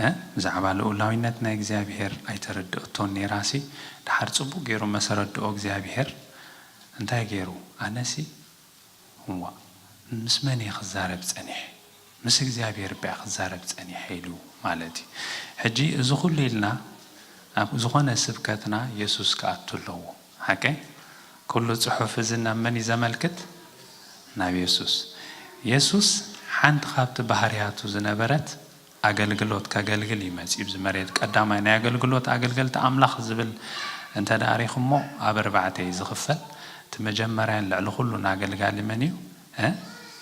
እ ብዛዕባ ልኡላዊነት ናይ እግዚኣብሄር ኣይተረድኦቶን ኔራሲ ድሓር ጽቡቅ ጌሩ መሰረድኦ እግዚኣብሄር እንታይ ጌሩ ኣነሲ ዋእ ምስ መን እየ ክዛረብ ጸኒሐ ምስ እግዚኣብሄር እበ'የ ክዛረብ ጸኒሐ ኢሉ ማለት እዩ ሕጂ እዚ ኩሉ ኢልና ኣብ ዝኮነ ስብከትና የሱስ ክኣቱ ኣለዎ ሓቂ? ኩሉ ጽሑፍ እዚ ናብ መን እዩ ዘመልክት? ናብ የሱስ። የሱስ ሓንቲ ካብቲ ባህርያቱ ዝነበረት ኣገልግሎት ከገልግል እዩ መጺኡ ኣብዚ መሬት። ቀዳማይ ናይ ኣገልግሎት ኣገልገልቲ ኣምላኽ ዝብል እንተ ደኣ ሪኹሞ ኣብ ኣርባዕተ እዩ ዝኽፈል። እቲ መጀመርያን ልዕሊ ኩሉን ኣገልጋሊ መን እዩ?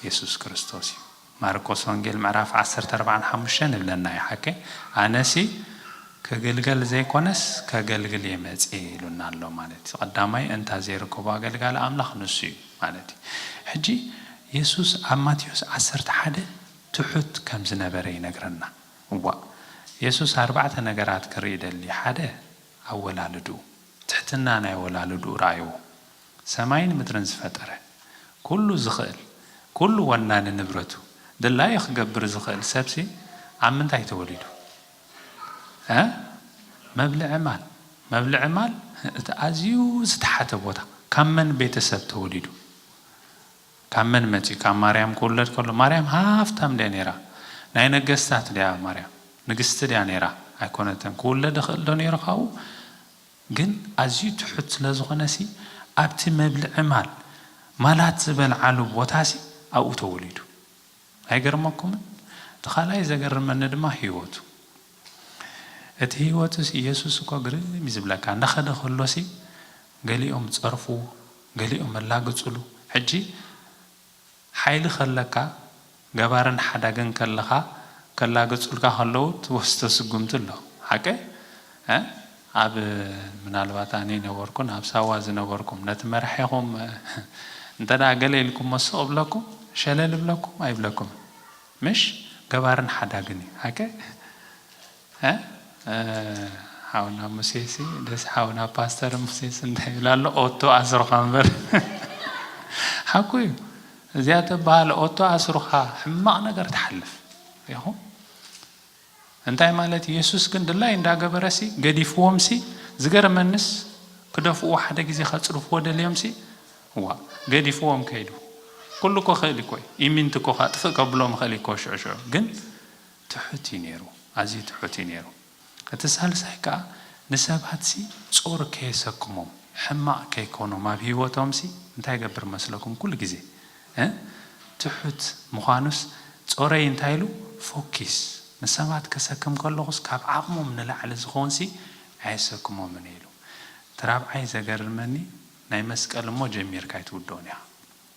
የሱስ ክርስቶስ እዩ። ማርቆስ ወንጌል ምዕራፍ ዓሰርተ ኣርባዕን ሓሙሽተን ይብለና እዩ ሓቀይ ኣነሲ ክግልገል ዘይኮነስ ከገልግል እየ መጽየ ኢሉና ኣሎ ማለት እዩ ቀዳማይ እንታ ዘይርከቦ ኣገልጋሊ ኣምላኽ ንሱ እዩ ማለት እዩ ሕጂ የሱስ ኣብ ማቴዎስ ዓሰርተ ሓደ ትሑት ከም ዝነበረ ይነግረና እዋእ የሱስ ኣርባዕተ ነገራት ክርኢ ይደሊ ሓደ ኣወላልድኡ ትሕትና ናይ ወላልድኡ ርኣይዎ ሰማይን ምድርን ዝፈጠረ፣ ኩሉ ዝኽእል፣ ኩሉ ወናኒ ንብረቱ፣ ድላዩ ክገብር ዝኽእል ሰብሲ ኣብ ምንታይ ተወሊዱ? እህ! መብልዒ ማል! መብልዒ ማል እቲ ኣዝዩ ዝተሓተ ቦታ! ካብ መን ቤተሰብ ተወሊዱ? ካብ መን መጺኡ? ካብ ማርያም ክውለድ ከሎ? ማርያም ሃፍታም ድያ ነይራ? ናይ ነገስታት ድያ ማርያም? ንግስቲ ድያ ነይራ? ኣይኮነትን። ክውለድ ይኽእልዶ ነይሩ ካብኡ? ግን ኣዝዩ ትሑት ስለዝኾነሲ ኣብቲ መብልዒ ማል ማላት ዝበልዓሉ ቦታሲ ኣብኡ ተወሊዱ። ኣይገርመኩምን? እቲ ካልኣይ ዘገርመኒ ድማ ህይወቱ። እቲ ህይወቱሲ የሱስ እኮ ግርም እዩ ዝብለካ እንዳኸደ ከሎሲ ገሊኦም ጸርፍዎ ገሊኦም ኣላግጽሉ ሕጂ ሓይሊ ከለካ ገባርን ሓዳግን ከለካ ከላግጹልካ ከለዉ ትወስዶ ስጉምቲ ኣሎ ሓቀይ እህ ኣብ ምናልባት ኣነ ኣይነበርኩን ኣብ ሳዋ ዝነበርኩም ነቲ መራሒኹም እንተ ገለ ኢልኩሞ ስቅ ይብለኩም ሸለል ይብለኩም ኣይብለኩምን ምሽ ገባርን ሓዳግን እዩ ሓቀይ እህ ሓውና ሙሴሲ ደስ ሓውና ፓስተር ሙሴሲ እንታይ ይብል ኣሎ ኦቶ ኣስሩካ እምበር ሓቁ እዩ እዚኣ ተበሃል ኦቶ ኣስሩካ ሕማቅ ነገር ትሓልፍ ኢኹ እንታይ ማለት የሱስ ግን ድላይ እንዳገበረሲ ገዲፍዎምሲ ዝገርመንስ ክደፍእዎ ሓደ ግዜ ከጽድፍዎ ደልዮምሲ ዋ ገዲፍዎም ከይዱ ኩሉ እኮ ክእል እኮ ኢሚንት እኮ ከጥፍእ ከብሎም ይኽእል እኮ ሽዑ ሽዑ ግን ትሑት እዩ ነይሩ፣ ኣዝዩ ትሑት እዩ ነይሩ። እቲ ሳልሳይ ከኣ ንሰባትሲ ጾር ከየሰክሞም፣ ሕማቕ ከይኮኖም ኣብ ህይወቶምሲ እንታይ ይገብር መስለኩም ኩሉ ግዜ እ ትሑት ምዃኑስ ጾረይ እንታይ ኢሉ ፎኪስ ንሰባት ከሰክም ከለኹስ ካብ ዓቕሞም ንላዕሊ ዝኾንሲ ኣየሰክሞምን ኢሉ። እቲ ራብዓይ ዘገርመኒ ናይ መስቀል እሞ ጀሚርካ ኣይትውድኦን ኢኻ።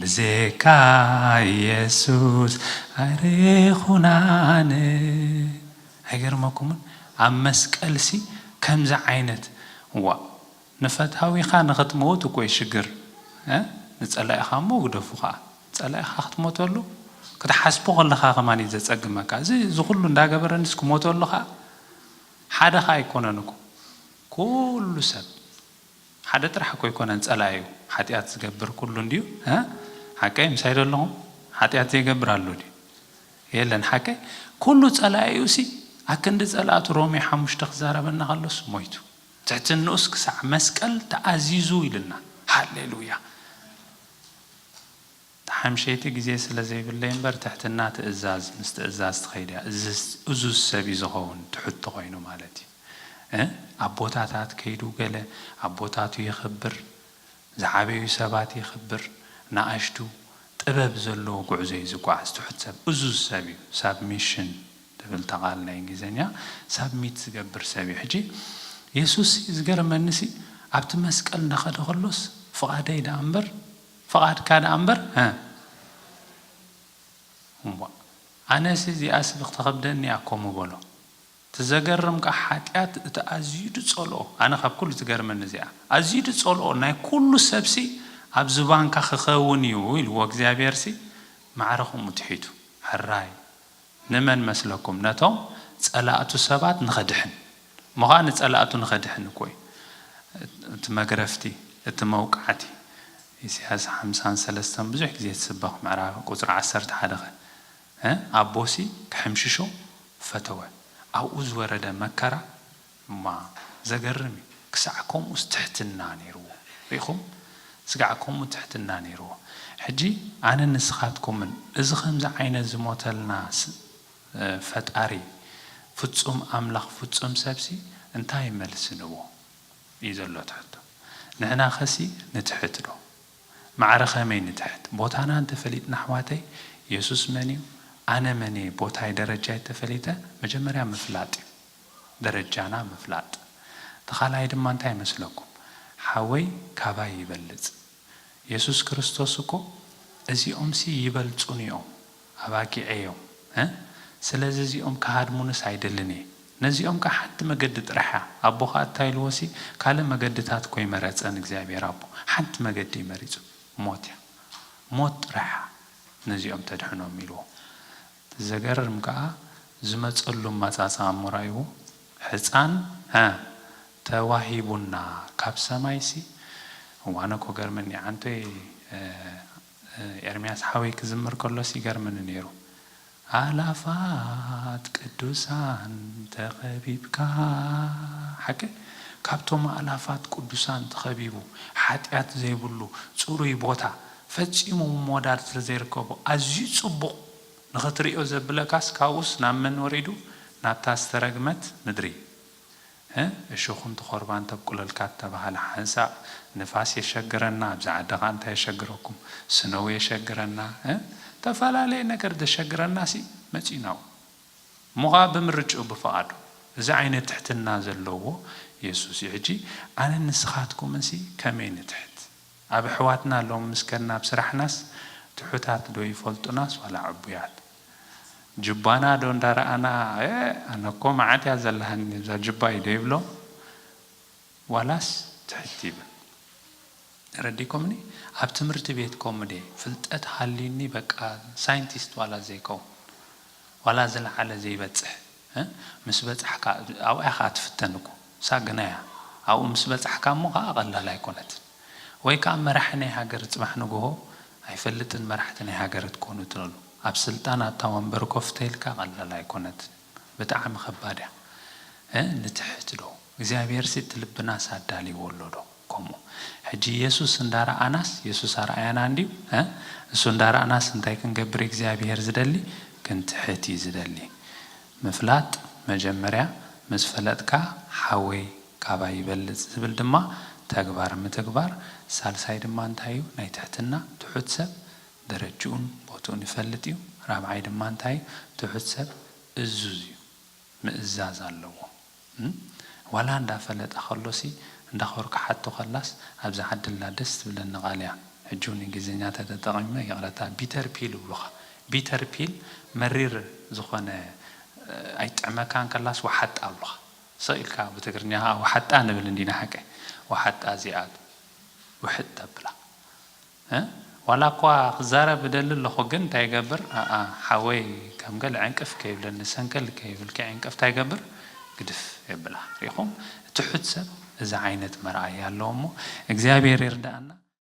ብዜካ ኢየሱስ ኣይርኹናን። ኣይገርመኩምን ኣብ መስቀልሲ ከምዚ ዓይነት ዋእ ንፈታዊኻ ንኽትመውት እኮዩ ሽግር እ ንጸላኢኻ እሞ ግደፉ ኸኣ ጸላኢኻ ክትሞተሉ ክትሓስቦ ከለኻ ከማን እዩ ዘጸግመካ እዚ ዝኹሉ እንዳገበረንስ ክሞተሉ ኸኣ ሓደ ኸኣ ኣይኮነን እኮ ኩሉ ሰብ ሓደ ጥራሕ እኮ ኣይኮነን ጸላኢኡ ሓጥያት ዝገብር ኩሉ እንድዩ እህ ሓቀይ ምሳይ ዶ ኣለኹም ሓጥያት ዘይገብር ኣሎ ድዩ የለን ሓቀይ ኩሉ ጸላኢኡ ሲ ኣክንዲ ጸላእቱ ሮሜ ሓሙሽተ ክዛረበና ከሎስ ሞይቱ ትሕትንኡስ ክሳዕ መስቀል ተኣዚዙ ኢሉና ሃሌሉያ። ተሓምሸይቲ ግዜ ስለ ዘይብለይ እምበር ትሕትና ትእዛዝ ምስ ትእዛዝ ትኸይድ እያ እዙዝ ሰብ እዩ ዝኸውን ትሑት ተኾይኑ ማለት እዩ እ ኣቦታታት ከይዱ ገለ ኣቦታቱ የኽብር ዝዓበዩ ሰባት የኽብር ንኣሽቱ ጥበብ ዘለዎ ጉዕዞ እዩ ዝጓዓዝ ትሑት ሰብ እዙዝ ሰብ እዩ ሳብሚሽን ትብል እታ ቃል ናይ እንግሊዘኛ ሳብሚት ዝገብር ሰብ እዩ ሕጂ የሱስ ዝገርመኒ ሲ ኣብቲ መስቀል እንዳኸደ ከሎስ ፍቓደይ ደኣ እምበር ፍቓድካ ደኣ እምበር ህእ እምቧእ። ኣነሲ እዚኣስ ብክተኸብደኒ ኣኮ ምበሎ። እቲ ዘገርም ከኣ ሓጢኣት እቲ ኣዝዩ ድጸልኦ ኣነ ካብ ኩሉ ትገርመኒ እዚኣ ኣዝዩ ድጸልኦ ናይ ኩሉ ሰብሲ ኣብ ዝባንካ ክከውን እዩ ኢልዎ እግዚኣብሄርሲ ማዕረ ከምኡ ትሒቱ ሕራይ ንመን መስለኩም ነቶም ጸላእቱ ሰባት ንኸድሕን እሞ ኸኣ ንጸላእቱ ንኸድሕን እኮ እዩ እቲ መግረፍቲ እቲ መውቃዕቲ ኢሳያስ ሓምሳን ሰለስተን ብዙሕ ግዜ ትስበኽ ምዕራፍ ቁጽሪ ዓሰርተ ሓደ ከ ኣቦሲ ክሕምሽሾ ፈተወ ኣብኡ ዝወረደ መከራ እማ ዘገርም እዩ ክሳዕ ከምኡስ ትሕትና ነይርዎ ርኢኹም ስጋዕ ከምኡ ትሕትና ነይርዎ ሕጂ ኣነን ንስኻትኩምን እዚ ከምዚ ዓይነት ዝሞተልና ፈጣሪ ፍጹም ኣምላኽ ፍጹም ሰብሲ እንታይ መልሲ ንቦ እዩ ዘሎ እቲ ሕቶ ንሕናኸሲ ንትሕት ዶ ማዕረ ከመይ ንትሕት ቦታና እንተፈሊጥና ኣሕዋተይ የሱስ መን እዩ ኣነ መን እየ ቦታይ ደረጃይ ተፈሊጠ መጀመርያ ምፍላጥ እዩ ደረጃና ምፍላጥ እቲ ካልኣይ ድማ እንታይ ይመስለኩም ሓወይ ካባይ ይበልጽ የሱስ ክርስቶስ እኮ እዚኦምሲ ይበልጹኒ ዮም ኣባጊዐይ ዮም እ ስለዚ እዚኦም ክሃድሙንስ ኣይደልን እየ ነዚኦም ከኣ ሓንቲ መገዲ ጥራሕ እያ ኣቦ ከኣ እታይ ኢልዎሲ ካልእ መገድታት እኮ ኣይመረጸን እግዚኣብሄር ኣቦ ሓንቲ መገዲ እዩ መሪጹ ሞት እያ ሞት ጥራሕ እያ ነዚኦም ተድሕኖም ኢልዎ እቲ ዘገርም ከኣ ዝመጸሉ ኣመጻጽኣ እሞ ራኣይዎ ሕጻን ዐ ተዋሂቡና ካብ ሰማይሲ እወ ኣነ እኮ ገርመኒ ዓንቶይ ኤርምያስ ሓወይ ክዝምር ከሎስ ይገርመኒ ኔሩ ኣእላፋት ቅዱሳን ተኸቢብካ ሓቀይ ካብቶም ኣእላፋት ቅዱሳን ተኸቢቡ ሓጥያት ዘይብሉ ጽሩይ ቦታ ፈጺሙ ምወዳድ ስለ ዘይርከቦ ኣዝዩ ጽቡቕ ንኽትርእዮ ዘብለካስ ካብኡስ ናብ መን ወሪዱ ናብታ ዝተረግመት ምድሪ እ እሾኽን ትኾርባን ተብቁለልካ እተባህለ ሓንሳእ ንፋስ የሸግረና ኣብዚ ዓዲ ከኣ እንታይ የሸግረኩም ስነው የሸግረና እ ተፈላለየ ነገር ዘሸግረናሲ መጺኡ ናብኡ እሞ ከኣ ብምርጭኡ ብፍቓዱ እዚ ዓይነት ትሕትና ዘለዎ የሱስ እዩ ሕጂ ኣነን ንስኻትኩምንሲ ከመይ ንትሕት ኣብ ኣሕዋትና ሎሚ ምስ ከድና ኣብ ስራሕናስ ትሑታት ዶ ይፈልጡናስ ዋላ ዕቡያት ጁባና ዶ እንዳረኣና ኤእ ኣነ እኮ መዓት እያ ዘላሃኒ እብዛ ጁባይ ዶ ይብሎም ዋላስ ትሕት ይብል ተረዲኩምኒ ኣብ ትምህርቲ ቤት ከምኡ ድየ ፍልጠት ሃልዩኒ በቃ ሳይንቲስት ዋላ ዘይከውን ዋላ ዝለዓለ ዘይበጽሕ ምስ በጻሕካ ኣብኣ ኢኻ ትፍተን እኮ እሳ ግና እያ ኣብኡ ምስ በጻሕካ እሞ ከኣ ቀላል ኣይኮነትን ወይ ከኣ መራሒ ናይ ሃገር ጽባሕ ንግሆ ኣይፈልጥን መራሕቲ ናይ ሃገር ትኮኑ ትደሉ ኣብ ስልጣን ኣብታ ወንበር ኮፍ ተኢልካ ቀላል ኣይኮነትን ብጣዕሚ ከባድ እያ ንትሕት ዶ እግዚኣብሄርሲ እቲ ልብናስ ኣዳሊዎ ኣሎ ዶ ኮሞ ሕጂ የሱስ እንዳ ረኣናስ የሱስ ኣርኣያና እንድዩ እ እሱ እንዳ ረኣናስ እንታይ ክንገብር እግዚኣብሄር ዝደሊ ክንትሕት እዩ ዝደሊ ምፍላጥ መጀመርያ ምስ ፈለጥካ ሓወይ ካባይ ይበልጽ ዝብል ድማ ተግባር ምትግባር ሳልሳይ ድማ እንታይ እዩ ናይ ትሕትና ትሑት ሰብ ደረጅኡን ቦትኡን ይፈልጥ እዩ ራብዓይ ድማ እንታይ እዩ ትሑት ሰብ እዙዝ እዩ ምእዛዝ ኣለዎ ዋላ እንዳ ፈለጠ ከሎ ሲ እንዳ ኮር ክሓቶ ከላስ ኣብ ዝዓድላ ደስ ትብለኒ ቃል እያ ሕጂ ውን እንግሊዝኛ ተተጠቂመ ይቅረታ ቢተር ፒል እብሉካ ቢተር ፒል መሪር ዝኮነ ኣይጥዕመካን ከላስ ዋሓጣ እብሉካ ስቅ ኢልካ ብ ትግርኛ ከኣ ዋሓጣ ንብል እንዲና ሓቀይ ዋሓጣ እዚኣ ውሕጥ ተብላ። እ ዋላ እኳ ክዛረብ እደሊ ኣለኹ ግን እንታይ ይገብር ኣኣ ሓወይ ከም ገለ ዕንቅፍ ከይብለኒ ሰንከል ከይብልኪ ዕንቅፍ እንታይ ይገብር ግድፍ የብላ ሪኢኹም ትሑት ሰብ እዚ ዓይነት መርኣያ ኣለዎ እሞ እግዚኣብሄር ይርድኣና።